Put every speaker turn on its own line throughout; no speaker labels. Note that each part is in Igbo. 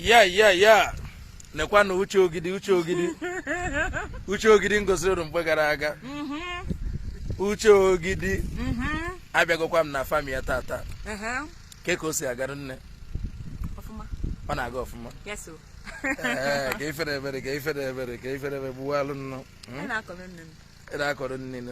ya ya ya nekwanụ uche ogidi uche ogidi uche ogidi m gosiri unu mgbe gara aga uche ogidi abịagokwa m na fam ya tata kee ka o si agara nne ọ na-aga ọfụma ee ka ifere ebere ka ifere ebere ka ifere ebere gbuwalụ nnụ ị na-akọrọ nne nụ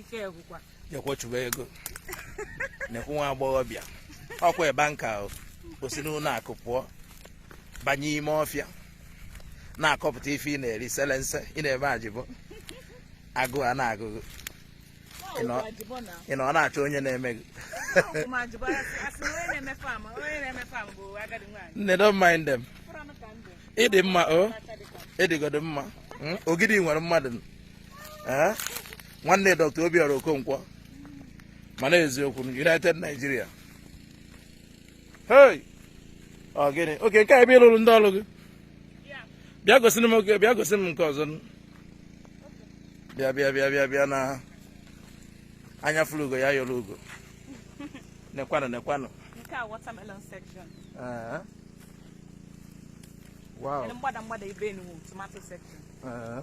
ike agwụkwa jekwa chụba ego na-ekwu nwa agbọghọbịa ọkwa banker o o si n'ụlọ akụ pụọ banye ime ọfịa na-akọpụta ife ị na-eri selense ị na-eme ajịbọ agụụ ana-agụ gị Ị nọ- Ọwụkwa ajịbọ na ị na ọ na-achọ onye na-eme gị ọwụkwa m ajịbọ a sị a sị na onye na-eme fam onye na-eme fam bụ agadi nwaanyị nne don't mind them Fụrụ anụ ka ndụ ị dị mma o aka dị ka m. ị dịgodu mma Mm, ogidi nwere mmadụ eh? nwanne Dr. Obiora Okonkwo mana eziokwu United Nigeria hey ọ gịnị oke nke a ebe ị lụrụ ndị ọrụ gị bịa gosi m oke bịa gosi m nke ọzọ bịa bịa bịa bịa bịa na anya fụrụ ugo ya yọrọ ugo nekwanụ nekwanụ nke a watermelon section eh. wow mgbada mgbada ibe tomato section eh.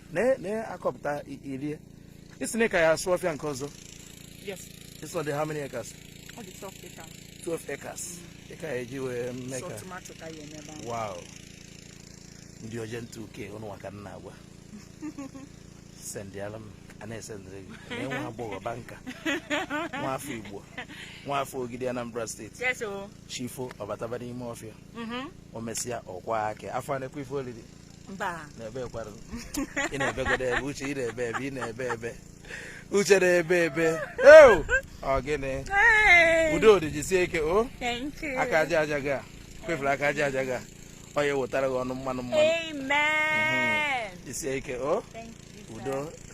na- na-akọpụta i- irie ị sị na ị ka ya asụ ọfịa nke ọzọ Yes, this one dey how many acres ọ dị twelve acre. 12 acres ị ka ya eji wee mee So ka tomato ka ya eme ebe ahụ. wow ndị oje ntụ uke ụnụ nwa ka m na-agwa sendịala m a na-esendịrị gị na nwa agbọghọ banker nwa afọ igbo nwa afọ ogidi anambra steeti Yes, o. chi fo ọ bataba n'ime ọfịa Mhm. o mesịa ọkwa aka afọ a nekwa ife olili mba na-ebekwara ị na-ebegodu ebe uche ị na-ebe ebe ị na-ebe ebe uche na-ebe ebe eu ọ gịnị Hey! udo dị jisie ike o Thank you. aka aja aja gị a kwefere aka aja aja gị a ọ ya ewetara gị ọnụ mmanụ mmanụ Amen. jisie ike o Thank you. sir. udo